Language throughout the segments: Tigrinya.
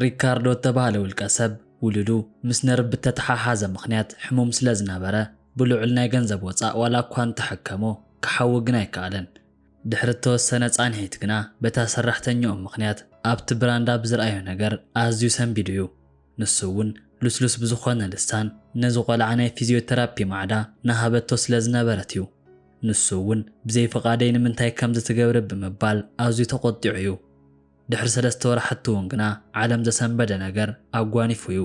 ሪካርዶ እተባህለ ውልቀ ሰብ፣ ውሉዱ ምስ ነርቭ ብእተተሓሓዘ ምኽንያት ሕሙም ስለ ዝነበረ፣ ብልዑል ናይ ገንዘብ ወጻእ ዋላ እኳ እንተ ሐከሞ፣ ክሓዊ ግን ኣይከኣለን። ድሕሪ እተወሰነ ጻንሒት ግና፣ በታ ሰራሕተኛኡ ምኽንያት፣ ኣብቲ ብራንዳ ብዝርኣዮ ነገር ኣዝዩ ሰንቢዱ እዩ። ንሱ እውን ልስሉስ ብዝኾነ ልሳን ነዚ ቆልዓ ናይ ፊዝዮተራፒ ማዕዳ ናሃበቶ ስለ ዝነበረት እዩ። ንሱ እውን ብዘይ ፍቓደይ ንምንታይ ከምዚ ትገብሪ ብምባል ኣዝዩ ተቖጢዑ እዩ። ድሕሪ ሰለስተ ወራሕቲ እውን ግና ዓለም ዘሰንበደ ነገር ኣጓኒፉ እዩ።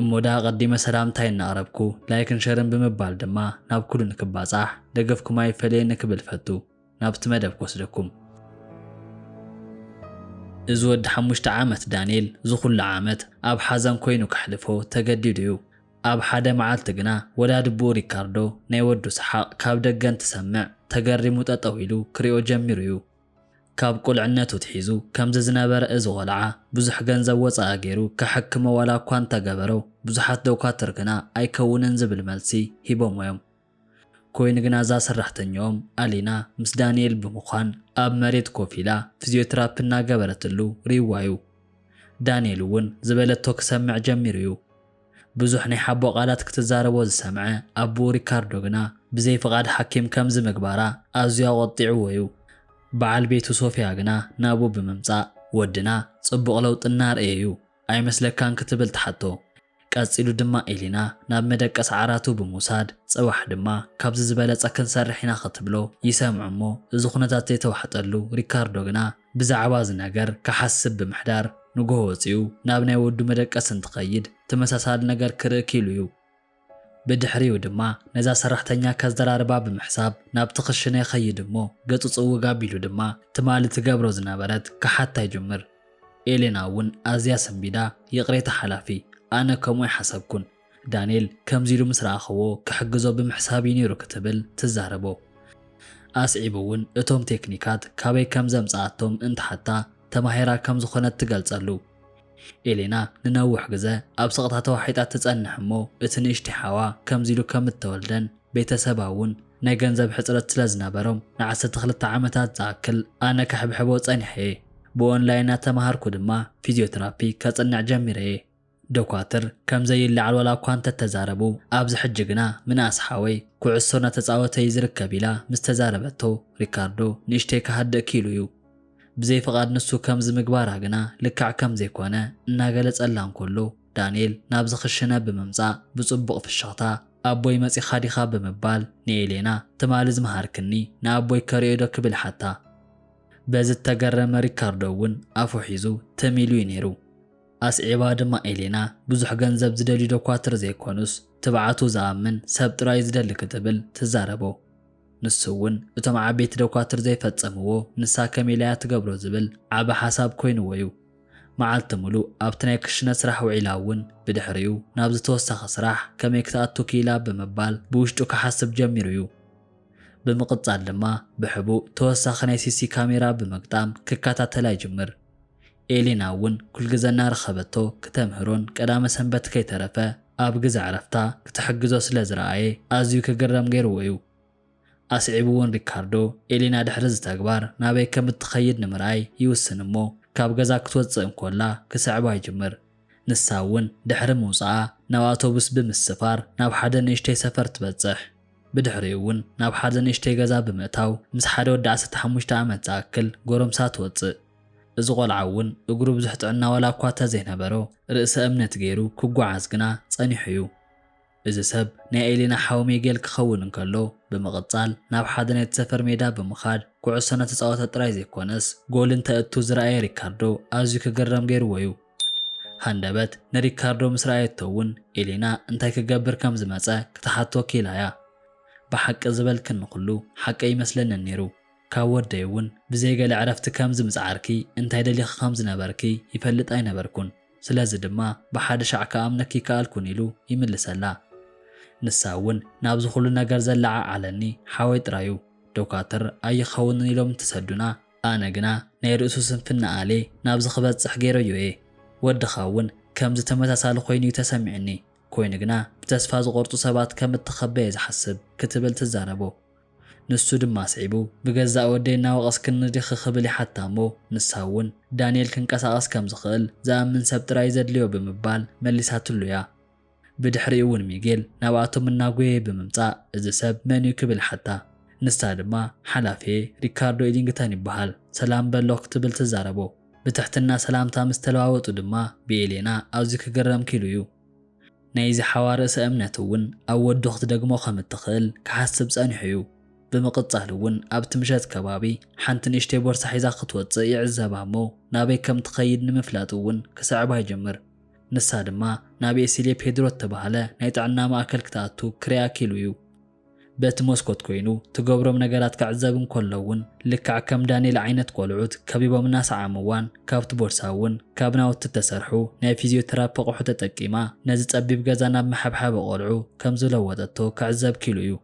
እሞ ድኣ ኣቐዲመ ሰላምታይ እናቕረብኩ ላይክን ሸርን ብምባል ድማ ናብ ኩሉ ንክባፃሕ ደገፍኩም ኣይፈለየኒ ክብል እፈቱ። ናብቲ መደብ ክወስደኩም። እዚ ወዲ ሓሙሽተ ዓመት ዳንኤል ዝኹሉ ዓመት ኣብ ሓዘን ኮይኑ ከሕልፎ ተገዲዱ እዩ። ኣብ ሓደ መዓልቲ ግና ወዳድብኡ ሪካርዶ ናይ ወዱ ሰሓቕ ካብ ደገ እንትሰምዕ ተገሪሙ ጠጠው ኢሉ ክሪኦ ጀሚሩ እዩ። ካብ ቁልዕነቱ ኣትሒዙ ከምዚ ዝነበረ እዚ ቆልዓ ብዙሕ ገንዘብ ወፃኢ ገይሩ ከሐክሞ ዋላ እኳ እንተገበሮ ብዙሓት ዶኳትር ግና ኣይከውንን ዝብል መልሲ ሂቦሞ እዮም። ኮይኑ ግና እዛ ሰራሕተኛኦም ኣሊና ምስ ዳኒኤል ብምዃን ኣብ መሬት ኮፍ ኢላ ፍዝዮትራፒ እናገበረትሉ ሪእዋ'ዩ። ዳኒኤል'ውን ዝበለቶ ክሰምዕ ጀሚሩ'ዩ። ብዙሕ ናይ ሓቦ ቃላት ክትዛረቦ ዝሰምዐ ኣቡኡ ሪካርዶ ግና ብዘይ ፍቓድ ሓኪም ከምዚ ምግባራ ኣዝዩ ኣቖጢዕዎ'ዩ። በዓል ቤቱ ሶፍያ ግና ናብኡ ብምምጻእ ወድና ጽቡቕ ለውጢ እናርኣየ'ዩ። ኣይመስለካን ክትብል ትሓቶ። ቀጺሉ ድማ ኤሊና ናብ መደቀሲ ዓራቱ ብምውሳድ ጽባሕ ድማ ካብዚ ዝበለጸ ክንሰርሕ ኢና ክትብሎ ይሰምዑ እሞ እዚ ኩነታት ዘይተዋሕጠሉ ሪካርዶ ግና ብዛዕባ እዚ ነገር ክሓስብ ብምሕዳር ንጉሆ ወጺኡ ናብ ናይ ወዱ መደቀሲ እንትኸይድ ተመሳሳሊ ነገር ክርኢ ክኢሉ እዩ። ብድሕሪኡ ድማ ነዛ ሰራሕተኛ ከዘራርባ ብምሕሳብ ናብቲ ክሽነ ይኸይድ እሞ ገጹ ጽውግ ኣቢሉ ድማ ትማሊ ትገብሮ ዝነበረት ክሓታ ይጅምር። ኤሌና እውን ኣዝያ ሰንቢዳ ይቕሬታ ሓላፊ፣ ኣነ ከምኡ ኣይሓሰብኩን። ዳንኤል ከምዚ ኢሉ ምስ ረኣኽዎ ክሕግዞ ብምሕሳብ እዩ ነይሩ ክትብል ትዛረቦ። ኣስዒቡ እውን እቶም ቴክኒካት ካበይ ከም ዘምጽኣቶም እንትሓታ ተማሂራ ከም ዝኾነት ትገልጸሉ። ኤሌና ንነዊሕ ግዘ ኣብ ስቕታ ተዋሒጣ ትጸንሕ እሞ እቲ ንእሽተይ ሓዋ ከምዚ ኢሉ ከም እተወልደን ቤተሰባ እውን ናይ ገንዘብ ሕጽረት ስለ ዝነበሮም ንዓሰርተ ክልተ ዓመታት ዝኣክል ኣነ ከሕብሕቦ ጸኒሐ እየ። ብኦንላይን እናተማሃርኩ ድማ ፊዝዮትራፒ ከጽንዕ ጀሚረ እየ። ዶኳትር ከም ዘይለዓል ዋላ እኳ እንተ ተዛረቡ ኣብዚ ሕጂ ግና ምንኣስ ሓወይ ኩዕሶ እናተጻወተ እዩ ዝርከብ ኢላ ምስ ተዛረበቶ ሪካርዶ ንእሽተይ ክሃድእ ክኢሉ እዩ። ብዘይ ፍቓድ ንሱ ከምዚ ምግባራ ግና ልክዕ ከም ዘይኰነ እናገለጸላ እንከሎ፣ ዳንኤል ናብዚ ክሽነ ብምምጻእ ብጽቡቕ ፍሽኽታ፣ ኣቦይ መጺኻ ዲኻ? ብምባል ንኤሌና፣ ትማሊ ዝመሃርክኒ ንኣቦይ ከርእዮዶ? ክብል ሓታ። በዚ እተገረመ ሪካርዶ እውን ኣፉ ሒዙ ትም ኢሉ እዩ ነይሩ። ኣስዒባ ድማ ኤሌና፣ ብዙሕ ገንዘብ ዝደልዩ ደኳትር ዘይኰኑስ፣ ትብዓቱ ዝኣምን ሰብ ጥራይ እዩ ዝደሊ ክትብል ትዛረቦ። ንሱ እውን እቶም ዓበይቲ ደኳትር ዘይፈጸምዎ ንሳ ከመይ ኢላ እያ ትገብሮ ዝብል ዓቢ ሓሳብ ኮይንዎ እዩ። መዓልቲ ምሉእ ኣብቲ ናይ ክሽነ ስራሕ ውዒላ እውን ብድሕሪኡ ናብዚ ተወሳኺ ስራሕ ከመይ ክትኣቱ ክኢላ ብምባል ብውሽጡ ክሓስብ ጀሚሩ እዩ። ብምቕጻል ድማ ብሕቡእ ተወሳኺ ናይ ሲሲ ካሜራ ብምግጣም ክከታተላ ይጅምር። ኤሊና እውን ኩልግዘ እናረኸበቶ ክተምህሮን ቀዳመ ሰንበት ከይተረፈ ኣብ ግዘ ዕረፍታ ክትሕግዞ ስለ ዝረኣየ ኣዝዩ ክግረም ገይርዎ እዩ። ኣስዒቡ እውን ሪካርዶ ኤሊና ድሕሪ እዚ ተግባር ናበይ ከም እትኸይድ ንምርኣይ ይውስን እሞ ካብ ገዛ ክትወፅእ እንኮላ ክስዕባ ይጅምር። ንሳ እውን ድሕሪ ምውፅኣ ናብ ኣውቶቡስ ብምስፋር ናብ ሓደ ንእሽተይ ሰፈር ትበፅሕ። ብድሕሪኡ እውን ናብ ሓደ ንእሽተይ ገዛ ብምእታው ምስ ሓደ ወዲ ዓሰርተ ሓሙሽተ ዓመት ዝኣክል ጎረምሳ ትወፅእ። እዚ ቆልዓ እውን እግሩ ብዙሕ ጥዕና ዋላ እኳ እተዘይነበሮ ርእሰ እምነት ገይሩ ክጓዓዝ ግና ጸኒሑ እዩ። እዚ ሰብ ናይ ኤሊና ሓው ሜጌል ክኸውን እንከሎ ብምቕጻል ናብ ሓደ ናይቲ ሰፈር ሜዳ ብምኻድ ኩዕሶ እናተጻወተ ጥራይ ዘይኮነስ ጎል እንተእቱ ዝረኣየ ሪካርዶ ኣዝዩ ክግረም ገይርዎ እዩ። ሃንደበት ንሪካርዶ ምስ ረኣየቶ እውን ኤሊና እንታይ ክገብር ከም ዝመጸ ክትሓቶ ክኢላ እያ። ብሓቂ ዝበልክኒ ኩሉ ሓቂ ኣይመስለንን ነይሩ። ካብ ወደይ እውን ብዘይ ገለ ዕረፍቲ ከምዚ ምጽዓርኪ፣ እንታይ ደሊኺ ከም ዝነበርኪ ይፈልጥ ኣይነበርኩን፣ ስለዚ ድማ ብሓደ ሻዕ ክኣምነኪ ኣይከኣልኩን ኢሉ ይምልሰላ። ንሳ እውን ናብዚ ኩሉ ነገር ዘለዓዓለኒ ሓወይ ጥራዩ፣ ዶካትር ኣይኸውንን ኢሎም እንትሰዱና፣ ኣነ ግና ናይ ርእሱ ስንፍና ኣልየ ናብዚ ክበጽሕ ገይረዮ እየ፣ ወድኻ እውን ከምዚ ተመሳሳሊ ኮይኑ እዩ ተሰሚዑኒ፣ ኮይኑ ግና ብተስፋ ዝቖርጹ ሰባት ከም እትኸበ እየ ዝሓስብ ክትብል ትዛረቦ። ንሱ ድማ ኣስዒቡ፣ ብገዛእ ወደይ እናወቐስክኒ ዲኺ ክብል ይሓታ እሞ ንሳ እውን፣ ዳንኤል ክንቀሳቐስ ከም ዝኽእል ዝኣምን ሰብ ጥራይ እዩ ዘድልዮ ብምባል መሊሳትሉ እያ። ብድሕሪኡ እውን ሚጌል ናብኣቶም እናጎየየ ብምምጻእ እዚ ሰብ መን እዩ ክብል ሓታ። ንሳ ድማ ሓላፊየ ሪካርዶ ኢሊንግተን ይበሃል፣ ሰላም በሎ ክትብል ትዛረቦ። ብትሕትና ሰላምታ ምስ ተለዋወጡ ድማ ብኤሌና ኣዝዩ ክግረም ክኢሉ እዩ። ናይዚ ሓዋ ርእሰ እምነት እውን ኣብ ወዱ ክትደግሞ ከም እትኽእል ክሓስብ ጸኒሑ እዩ። ብምቕጻል እውን ኣብቲ ምሸት ከባቢ ሓንቲ ንእሽተይ ቦርሳ ሒዛ ክትወጽእ ይዕዘባ እሞ ናበይ ከም ትኸይድ ንምፍላጥ እውን ክስዕባ ይጅምር። ንሳ ድማ ናብ ኤሲሌ ፔድሮ እተባህለ ናይ ጥዕና ማእከል ክትኣቱ ክርያ ክኢሉ እዩ። በቲ መስኮት ኮይኑ ትገብሮም ነገራት ክዕዘብ እንከሎ እውን ልክዕ ከም ዳንኤል ዓይነት ቆልዑት ከቢቦም እናሰዓምዋን ካብቲ ቦርሳ እውን ካብ ናውቲ እተሰርሑ ናይ ፊዝዮቴራፒ ኣቕሑ ተጠቂማ ነዚ ጸቢብ ገዛ ናብ መሐብሐቢ ቆልዑ ከም ዝለወጠቶ ክዕዘብ ክኢሉ እዩ።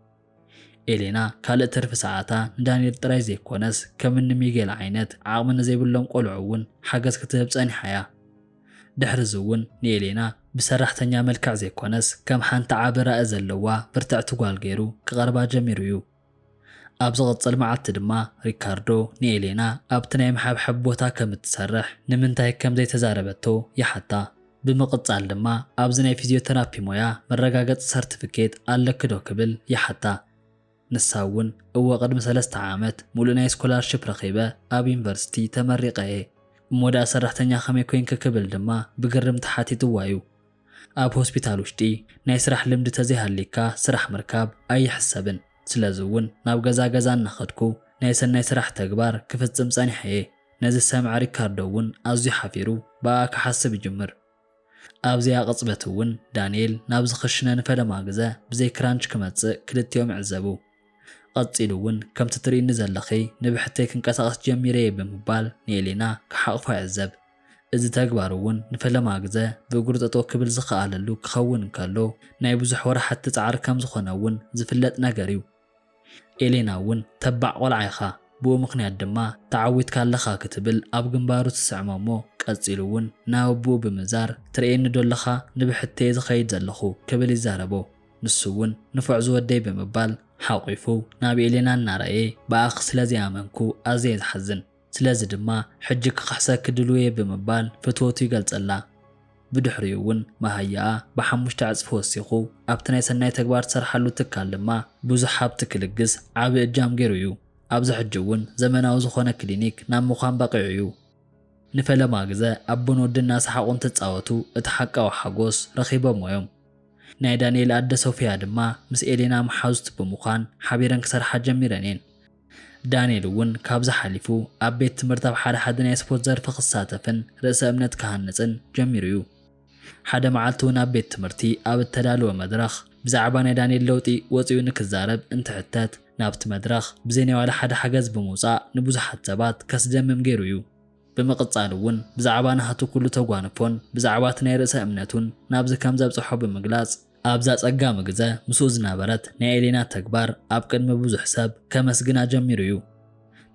ኤሌና ካልእ ትርፊ ሰዓታ ንዳንኤል ጥራይ ዘይኮነስ ከም እኒ ሚጌል ዓይነት ዓቕሚ ንዘይብሎም ቆልዑ እውን ሓገዝ ክትህብ ጸኒሓ እያ። ድሕርዚ እውን ንኤሌና ብሰራሕተኛ መልክዕ ዘይኮነስ ከም ሓንቲ ዓቢ ራኢ ዘለዋ ብርትዕቲ ጓል ገይሩ ክቐርባ ጀሚሩ እዩ። ኣብ ዝቕጽል መዓልቲ ድማ ሪካርዶ ንኤሌና ኣብቲ ናይ ምሕብሐብ ቦታ ከም እትሰርሕ ንምንታይ ከም ዘይተዛረበቶ ይሓታ። ብምቕጻል ድማ ኣብዚ ናይ ፊዝዮተራፒ ሞያ መረጋገጺ ሰርቲፊኬት ኣለኪ ዶ ክብል ይሓታ። ንሳ እውን እወ ቅድሚ ሰለስተ ዓመት ሙሉእ ናይ ስኮላርሽፕ ረኺበ ኣብ ዩኒቨርሲቲ ተመሪቐ እየ እሞ ድኣ ሰራሕተኛ ከመይ ኮይንኪ ክብል ድማ ብግርም ተሓቲትዋ እዩ። ኣብ ሆስፒታል ውሽጢ ናይ ስራሕ ልምዲ ተዘይሃልይካ ስራሕ ምርካብ ኣይሕሰብን ስለዚ እውን ናብ ገዛ ገዛ እናኸድኩ ናይ ሰናይ ስራሕ ተግባር ክፍፅም ፀኒሐ እየ። ነዚ ዝሰምዐ ሪካርዶ እውን ኣዝዩ ሓፊሩ ብኣኣ ክሓስብ ይጅምር። ኣብዚኣ ቅጽበት እውን ዳንኤል ናብ ዝኽሽነ ንፈለማ ግዘ ብዘይ ክራንች ክመጽእ ክልቲኦም ይዕዘቡ። ቐጺሉ እውን ከምቲ ትርእይኒ ዘለኺ ንብሕተይ ክንቀሳቐስ ጀሚረ እየ ብምባል ንኤሌና ክሓቕፋ ይዕዘብ። እዚ ተግባር እውን ንፈለማ ግዘ ብእግሩ ጠጠው ክብል ዝኸኣለሉ ክኸውን እንከሎ ናይ ብዙሕ ወራሕቲ ጻዕሪ ከምዝኾነ እውን ዝፍለጥ ነገር እዩ። ኤሌና እውን ተባዕ ቆልዓ ኢኻ ብኡ ምኽንያት ድማ ተዓዊትካ ኣለኻ ክትብል ኣብ ግንባሩ ትስዕሞ እሞ ቀጺሉ እውን ናብ ኣቡኡ ብምዛር ትርእየኒ ዶ ኣለኻ ንብሕተየ ዝኸይድ ዘለኹ ክብል ይዛረቦ ንሱ እውን ንፉዕ ዝወደይ ብምባል ሓቂፉ ናብ ኤሌና እናረኣየ ብኣኺ ስለዘይኣመንኩ ኣዝየ ዝሓዝን ስለዚ ድማ ሕጂ ክኽሕሰኪ ድሉው'የ ብምባል ፍትወቱ ይገልጸላ። ብድሕሪኡ'ውን መሃያኣ ብሓሙሽተ ዕጽፊ ወሲኹ ኣብቲ ናይ ሰናይ ተግባር ትሰርሓሉ ትካል ድማ ብዙሕ ሃብቲ ክልግስ ዓቢ እጃም ገይሩ'ዩ። ኣብዚ ሕጂ'ውን ዘመናዊ ዝኾነ ክሊኒክ ናብ ምዃን በቒዑ'ዩ። ንፈለማ ግዘ ኣቦን ወድን እናሰሓቑ እንትጻወቱ እቲ ሓቃዊ ሓጎስ ረኺቦሞ'ዮም። ናይ ዳኒኤል ኣደ ሶፍያ ድማ ምስ ኤሌና መሓዙት ብምዃን ሓቢረን ክሰርሓ ጀሚረን'የን። ዳንኤል እውን ካብዚ ሓሊፉ ኣብ ቤት ትምህርቲ ኣብ ሓደ ሓደ ናይ ስፖርት ዘርፊ ክሳተፍን ርእሰ እምነት ክሃንጽን ጀሚሩ እዩ። ሓደ መዓልቲ እውን ኣብ ቤት ትምህርቲ ኣብ እተዳለወ መድረኽ ብዛዕባ ናይ ዳንኤል ለውጢ ወጺኡ ንክዛረብ እንትሕተት ናብቲ መድረኽ ብዘይ ናይ ዋላ ሓደ ሓገዝ ብምውጻእ ንብዙሓት ሰባት ከስደምም ገይሩ እዩ። ብምቕጻል እውን ብዛዕባ ናህቱ ኩሉ ተጓንፎን ብዛዕባ እቲ ናይ ርእሰ እምነቱን ናብዚ ከም ዘብጽሖ ብምግላጽ ኣብዛ ጸጋሚ ግዘ ምስኡ ዝነበረት ናይ ኤሌና ተግባር ኣብ ቅድሚ ብዙሕ ሰብ ከመስግና ጀሚሩ እዩ።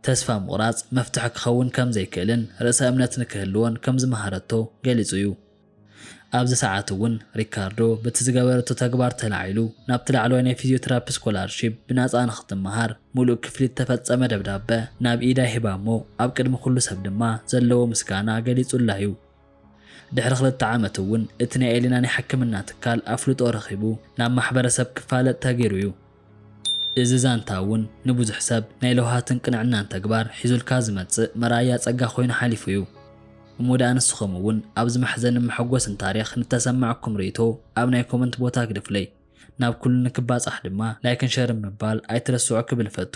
ተስፋ ምቑራጽ መፍትሒ ክኸውን ከም ዘይክእልን ርእሰ እምነት ንክህልዎን ከም ዝመሃረቶ ገሊጹ እዩ። ኣብዚ ሰዓት እውን ሪካርዶ በቲ ዝገበረቶ ተግባር ተላዒሉ ናብቲ ላዕለዋይ ናይ ፊዚዮቴራፒ ስኮላርሺፕ ብናጻ ንክትመሃር ምሉእ ክፍሊት እተፈጸመ ደብዳበ ናብ ኢዳ ሂባ'ሞ ኣብ ቅድሚ ኩሉ ሰብ ድማ ዘለዎ ምስጋና ገሊጹላ እዩ። ድሕሪ ክልተ ዓመት እውን እቲ ናይ ኤሊና ናይ ሕክምና ትካል ኣፍልጦ ረኺቡ ናብ ማሕበረሰብ ክፋለጥ ተገይሩ እዩ። እዚ ዛንታ እውን ንብዙሕ ሰብ ናይ ለውሃትን ቅንዕናን ተግባር ሒዙልካ ዝመፅእ መርኣያ ፀጋ ኮይኑ ሓሊፉ እዩ። እሞ ድኣ ንስኹም እውን ኣብዚ መሕዘንን መሐጎስን ታሪኽ ንተሰማዕኩም ርኢቶ ኣብ ናይ ኮመንት ቦታ ግደፉለይ። ናብ ኩሉ ንክባፃሕ ድማ ላይክን ሸርን ምባል ኣይትረስዑ ክብል እፈቱ።